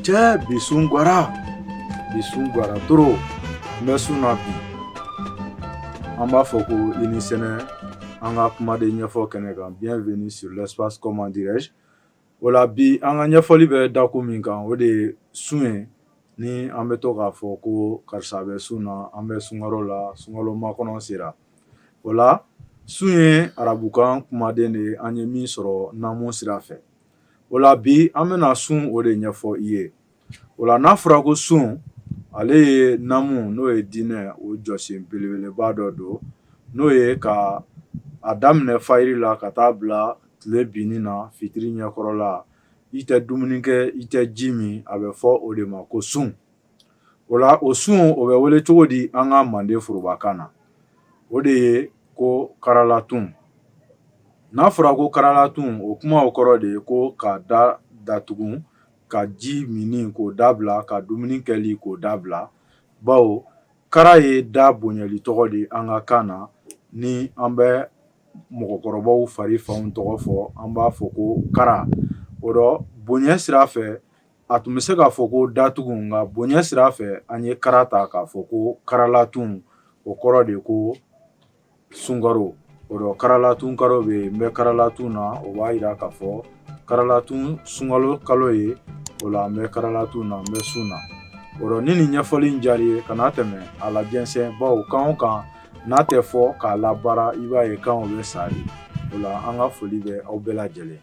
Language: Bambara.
Cɛ bi sun gwara bi sun gwara toro n bɛ sun na bi an b'a fɔ ko i ni sɛnɛ an ka kumaden ɲɛfɔ kɛnɛ kan bienvenue sur l'espace comment dirais-je o la bi an ka ɲɛfɔli bɛ dakun min kan o de ye sun ye ni an bɛ to k'a fɔ ko karisa bɛ sun na an bɛ sunkalo la sunkalo makɔnɔ sera o la sun ye arabukan kumaden de ye an ye min sɔrɔ namu sira fɛ o la bi an bɛna sun o de ɲɛfɔ i ye o la n'a fɔra ko sun ale ye namu n'o ye diinɛ o jɔsen belebeleba dɔ don n'o ye ka a daminɛ fajiri la ka taa bila tile binni na fitiri ɲɛkɔrɔla i tɛ dumuni kɛ i tɛ ji min a bɛ fɔ o de ma ko sun o la o sun o bɛ wele cogo di an ka manden forobakan na o de ye ko karalatun n'a fɔra ko karalatun o kuma o kɔrɔ de ye ko ka da datugu ka ji min k'o dabila ka dumuni kɛli k'o dabila bawo kara ye da bonyali tɔgɔ de an ka kan na ni an bɛ mɔgɔkɔrɔbaw fari fanw tɔgɔ fɔ an b'a fɔ ko kara o rɔ bonya sira fɛ A tun bɛ se k'a fɔ ko datugu nka bonya sira fɛ an ye kara ta k'a fɔ ko karalatun o kɔrɔ de ye ko sunkaro o rɔ karalatun karo bɛ yen n bɛ karalatun na o b'a jira k'a fɔ karalatun sunkalo kalo ye o la an bɛ karalatun na n bɛ sun na o rɔ ni nin ɲɛfɔli in diyara i ye kana tɛmɛ a lajɛnsɛn bawo kan o kan n'a tɛ fɔ k'a labaara i b'a ye kan o bɛ sa de o la an ka foli bɛ aw bɛɛ lajɛlen